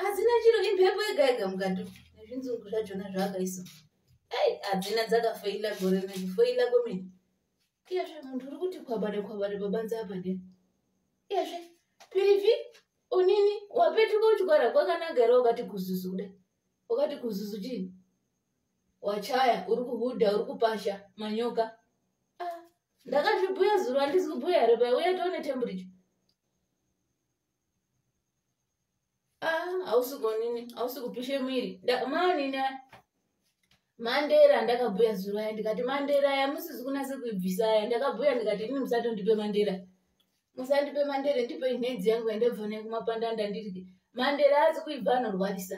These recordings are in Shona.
hadzina chiro imhepo yega yega mukati nezvinzungu zvachona zvaakaisa ei hadzina dzakafeila gore nekufeila kwemene iyezve munhu uri kuti kwabare kwabare pabanza apa de iyezve pirivi unini wapetuka uchigwara kwakanaka here wakati kuzuzu kuda wakati kuzuzu chii wachaya uri kuhudha uri kupasha manyoka ah, ndakazvibhuya zuro handisi kubhuya here paya uya tione temburicha hausi gonini hausi kupishe mwiri manini mandera ndakabhuya zuro aya ndikati mandera aya musizi kunase kuibvisa aya ndakabhuya ndikati ini musatondipe mandera musandipe mandere ndipe inhedzi yangu yandabva nayo kumapanda ndandirike mandere azi kuibva anorwarisa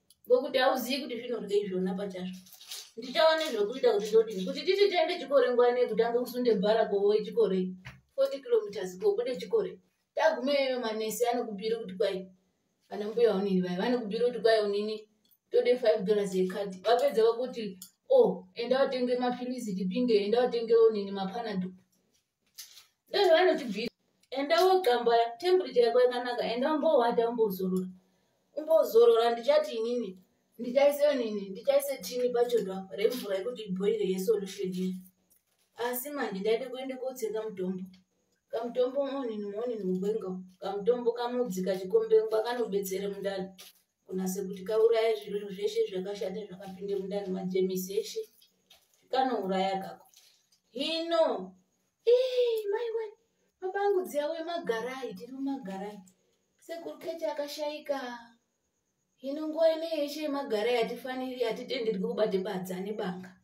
ngokuti hauzivi kuti zvinorya izvona pachazvo ndichava nezvekuita kuti ndodini kuti titi tiende chikore nguva nei kutanga kusunde bhara kovoe chikore forty kilometers kobude chikore tagumeyoyo manesi anokubiri kuti kwai vana mbuya unini vaya vanokubiri kuti kwai unini tode five dollars yekati vapedza vakuti o oh, enda vatenge mapilisi tipinge enda vatenge unini mapanado Ndozvo vanotibvisa. Enda wogambaya temperature yako yakanaka enda umbowata umbozorora. Umbozorora ndichati inini ndichaise nini ndichaise tini pachoto apa remvura yekuti ibhoire yesolution iyi. Asi manje ndaida kuenda kotsenga mutombo. Kamutombo monini monini mugwenga kamutombo kamudzi kachikombengwa kanobetsere mundani. kunase kuti kauraya zvinhu zveshe zvakashata zvakapinde mundani majemisi eshe kanouraya kako hino maiwe mabangu dziyawe magarai tiri mumagarai sekuru keche akashaika hino nguva ine yeshe yemagarai hatifaniri hatitenderwi kubate badza nebanga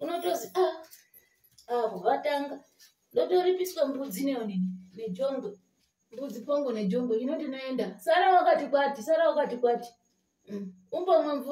unotozi a ah, ah, avo vatanga ndotoripiswa mbudzi neonini nejongwe mbudzi pongo nejongwe inoti noenda sara wakati kwati sara wakati kwati mm. umbomwe mvura